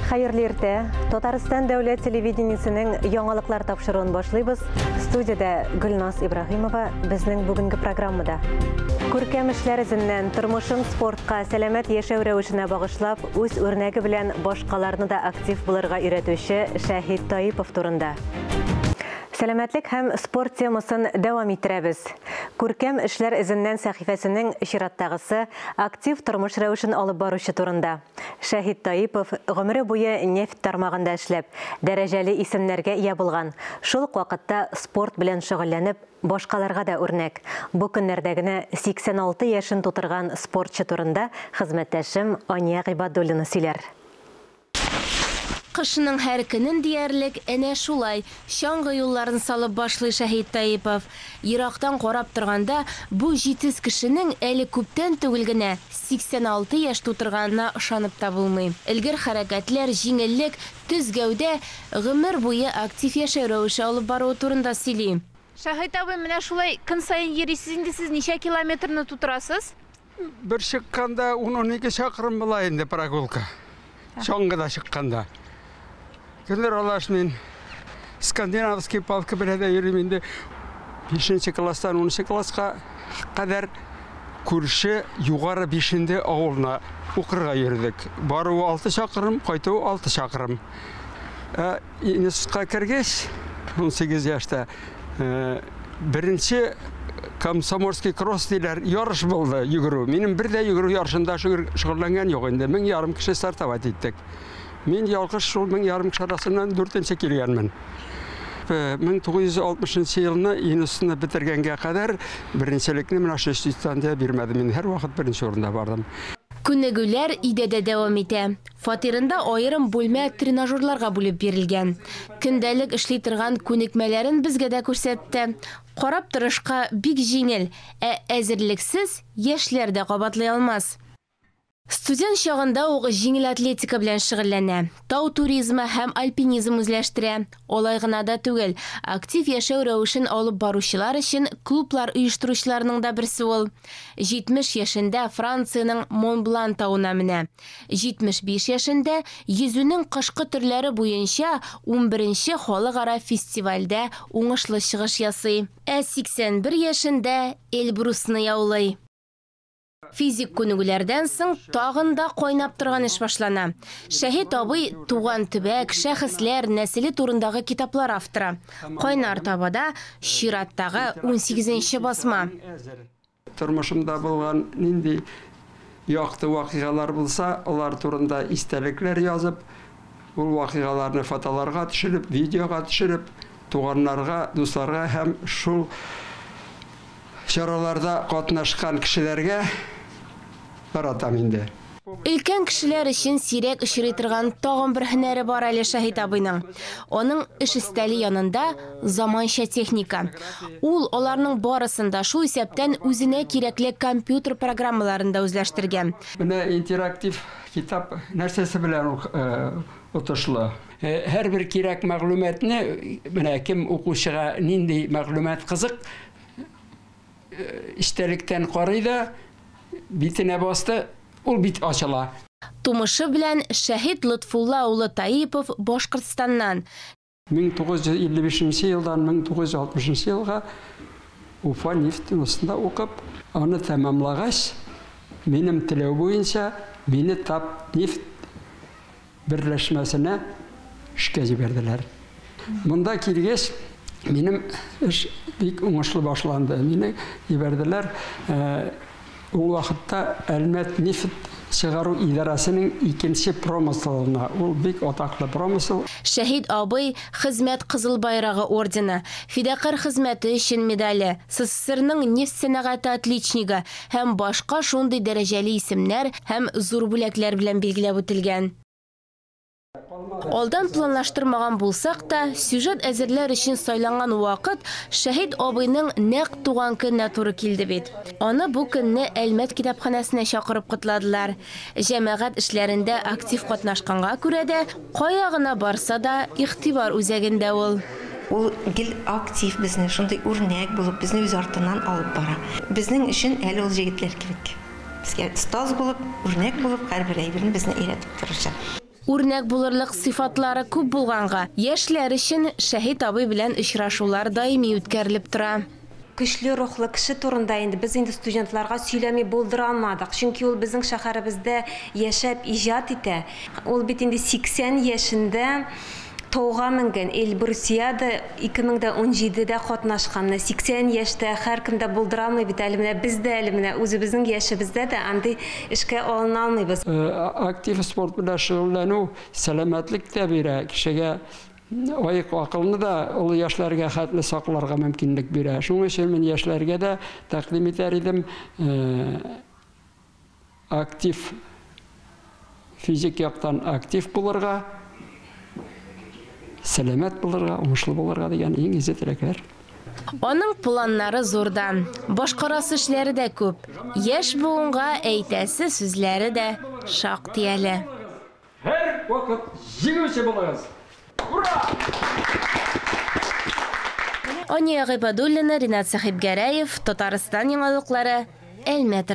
Хәерле иртә. Татарстан дәүләт телевидениесенең яңалыклар тапшыруын башлыйбыз. Студиядә Гөлназ Ибраһимова безнең бүгенге программада. Күркәм эшләр эзеннән тормышын спортка, сәламәт яшәү рәвешенә багышлап, үз үрнәге белән башкаларны да актив булырга өйрәтүче Шәһид Таипов турында. Сәламәтлек һәм спорт темасын дәвам иттерәбез. Күркәм эшләр эзеннән сәхифәсенең чираттагысы актив тормыш рәвешен алып баручы турында. Шәһит Таипов, гомере буе нефть тармагында эшләп, дәрәҗәле исемнәргә ия булган, шул ук вакытта спорт белән шөгыльләнеп, башкаларга да үрнәк, бу көннәрдә генә 86 яшен тутырган спортчы турында хезмәттәшем Ания Гыйбадуллина сөйләр. Кышның һәр көнен диярлек әнә шулай чаңгы юлларын салып башлый Шәһит Таипов. Ерактан карап торганда, бу җитез кешенең әле күптән түгел генә 86 яшь тутырганына ышанып та булмый. Элгер хәрәкәтләр, җиңеллек, төз гәүдә, гомер буе актив яшәү рәвеше алып баруы турында сөйли. Шаһит абый, менә шулай көн саен йөрисез инде сез, ничә километрны тутырасыз? Бер чыкканда ун-унике чакрым була инде прогулка. чаңгыда чыкканда. Гөлнур Алаш мин скандинавский палка белән дә йөрим инде. 5 класстан 10 класска кадәр күрше югары бишенде авылына укырга йөрдек. Баруы 6 чакрым, кайтуы 6 чакрым. Ә Институтка кергәч, 18 яшьтә беренче комсомольский кросс диләр, ярыш булды йөгерү. Минем бер дә йөгерү ярышында шөгыльләнгән юк инде. Мең ярым кеше стартовать иттек. Мин ялгыш шул мең ярым кеше арасыннан дүртенче килгәнмен. 1960 э, елны институтны бетергәнгә кадәр беренчелекне менә шул институттан да бирмәдем. Мин һәрвакыт беренче урында бардым. Күнегүләр идәдә дәвам итә. Фатирында аерым бүлмә тренажерларга бүлеп бирелгән. Көндәлек эшли торган күнекмәләрен безгә дә күрсәтте. Карап торышка бик җиңел, ә әзерлексез яшьләр дә кабатлый алмас. Студент чагында ук җиңел атлетика белән шөгыльләнә, тау туризмы һәм альпинизм үзләштерә. Алай гына да түгел, актив яшәү рәвешен алып баручылар өчен клублар оештыручыларның да берсе ул. 70 яшендә Франциянең Монблан тавына менә. 75 яшендә йөзүнең кышкы төрләре буенча унберенче халыкара фестивальдә уңышлы чыгыш ясый. Ә 81 яшендә Эльбрусны яулый. Физик күнегүләрдән соң тагын да кайнап торган эш башлана. Шәһит абый туган төбәк, шәхесләр нәселе турындагы китаплар авторы. Кайнар табада чираттагы унсигезенче басма. Тормышымда булган нинди якты вакыйгалар булса, алар турында истәлекләр язып, ул вакыйгаларны фотоларга төшереп, видеога төшереп, туганнарга, дусларга һәм шул чараларда катнашкан кешеләргә таратам инде. Өлкән кешеләр өчен сирәк очрый торган тагын бер һөнәре бар әле Шаһит абыйның. Аның эш өстәле янында заманча техника. Ул аларның барысын да, шул исәптән үзенә кирәкле компьютер программаларын да үзләштергән. Менә интерактив китап нәрсәсе белән отышлы? Һәрбер кирәк мәгълүматны, менә кем укучыга нинди мәгълүмат кызык, Эчтәлектән карый да, битенә басты, ул бит ачыла. Тумышы белән Шәһит Лотфулла улы Таипов Башкортстаннан. 1955 нче елдан 1960 нчы елга Уфа нефтеносында укып, аны тәмамлагач, минем теләү буенча, мине Татнефть берләшмәсенә эшкә җибәрделәр. Монда килгәч, минем эш бик уңышлы башланды. Мине җибәрделәр. Ул вакытта Әлмәт нефть чыгару идарәсенең икенче промыслына, ул бик атаклы промысл. Шәһит абый, Хезмәт Кызыл Байрагы ордены, Фидакарь хезмәте өчен медале, СССРның нефть сәнәгате отличнигы, һәм башка шундый дәрәҗәле исемнәр һәм зур бүләкләр белән билгеләп үтелгән. Алдан планлаштырмаган булсак та, сюжет әзерләр өчен сайланган вакыт Шәһит абыйның нәкъ туган көненә туры килде бит. Аны бу көнне Әлмәт китапханәсенә чакырып котладылар. Җәмәгать эшләрендә актив катнашканга күрә дә, кая гына барса да, игътибар үзәгендә ул. Ул гел актив, безне шундый үрнәк булып, безне үз артыннан алып бара. Безнең өчен әле ул җегетләр кирәк. Безгә остаз булып, үрнәк булып, һәрбер әйберне безне өйрәтеп торучы. Үрнәк булырлык сыйфатлары күп булганга, яшьләр өчен Шәһит абый белән очрашулар даими үткәрелеп тора. Көчле рухлы кеше турында инде без инде студентларга сөйләми булдыра алмадык, чөнки ул безнең шәһәребездә яшәп иҗат итә. Ул бит инде 80 яшендә Тауга менгән Эльбрусиада 2017 дә катнашкан. Менә 80 яшьтә һәркем дә булдырамый бит әле. Менә без дә әле менә үзебезнең яшебездә дә андый эшкә алына алмыйбыз. Актив спорт белән шөгыльләнү сәламәтлек тә бирә, кешегә аек акылны да олы яшьләргә хәтле сакларга мөмкинлек бирә. Шуның өчен мин яшьләргә дә тәкъдим итәр идем. актив, физик яктан актив булырга, сәламәт булырга, уңышлы булырга дигән иң изге теләкләр. Аның планнары зурдан, башкарасы эшләре дә күп, яшь буынга әйтәсе сүзләре дә шактый әле. Һәр вакыт җиңүче булыгыз! Ура! Ания Гыйбадуллина, Ринат Сәхибгәрәев, Татарстан яңалыклары, Әлмәт.